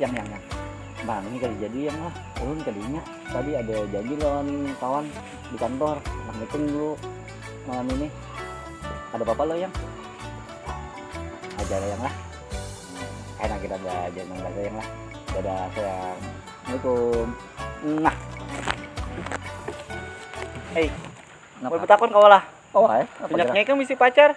yang yang yang bang ini kali jadi yang lah turun kalinya tadi ada janji lawan kawan di kantor anak meeting dulu malam ini ada bapak lo yang aja ada yang lah enak kita ada jangan ada yang lah dadah sayang assalamualaikum nah hei mau bertakon kau lah oh eh minyaknya kan misi pacar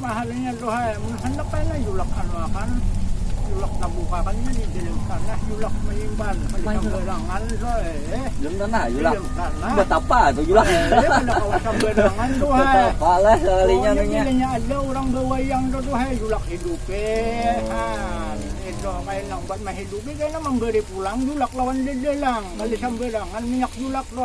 Maharinya tu ha mun handak kena julak anu akan julak tabuka akan nya di dalam tanah julak manyimpan kada sambarangan coy eh. Dalam tanah julak. Dalam tanah. Buat apa tu julak? Eh, kada kawa sambarangan tu ha. Buat apa lah sekalinya tu nya. Bila ada orang bawayang tu tu ha julak hidupe oh. ha. Itu kaya nang buat mahidupi kena memberi pulang julak lawan dedelang. Kada hmm. sambarangan minyak julak tu.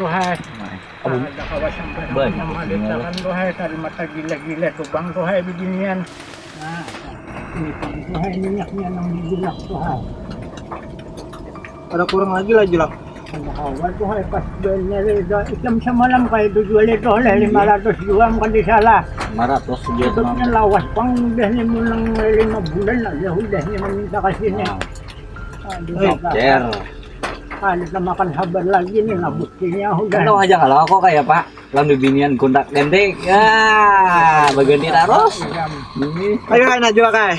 Duhai, kada kawa sampai malisakan duhai dari mata gila-gila tu bang duhai beginian. Nah, ini duhai minyaknya nang dibilas duhai. Kada kurang lagi lah Julak. Kada kawa tu hai pas banyar itu ikam samalam kaya bejual itu oleh lima ratus jua am kada salah. Lima ratus jua semalam. Hidupnya lawas pang udah nih mun nang lima bulan aja udah nih maminta ka sini. Aduh kakak. Kada tamakan habar lagi nih lah bustinya udah. Untung haja kalo aku kaya apa lawan bibinian gontak gantik. Yaa baganti tarus. Ayu ai nah Julak ai.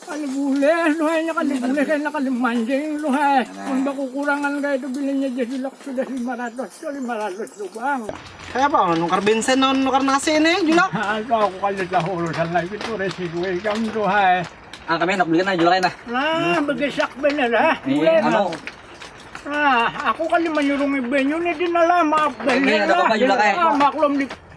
Kada bulih tu hai, inya kada bulih kena kada mancing tu hai. Mun bakukurangan kaya tu bilanya ja sudah sudah lima ratus tu, lima ratus tu pang. Kaya apa lawan nukar bensin lawan nukar nasi ni Julak? Nah tu aku kada tahu urusan lagi tu resiko ikam tu hai. Nah kami handak beli nah Julak ai nah. Nah begesak banar ha. Mulai nah. Nah aku kada manyurungi banyu ni dinalah maaf banar lah. Maklum di.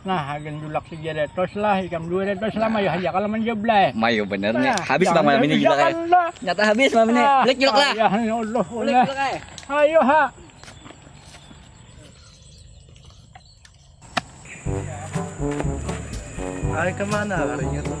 Nah, hagan julak saja retos lah, ikam dua retos lah, mayu haja kalau menjeblay. Mayu bener nih, nah, habis bang malam ini julak ya. Nyata habis malam ini, ah, balik julak lah. Ya Allah, balik julak lah. Ayo ha. Ayo kemana larinya tuh?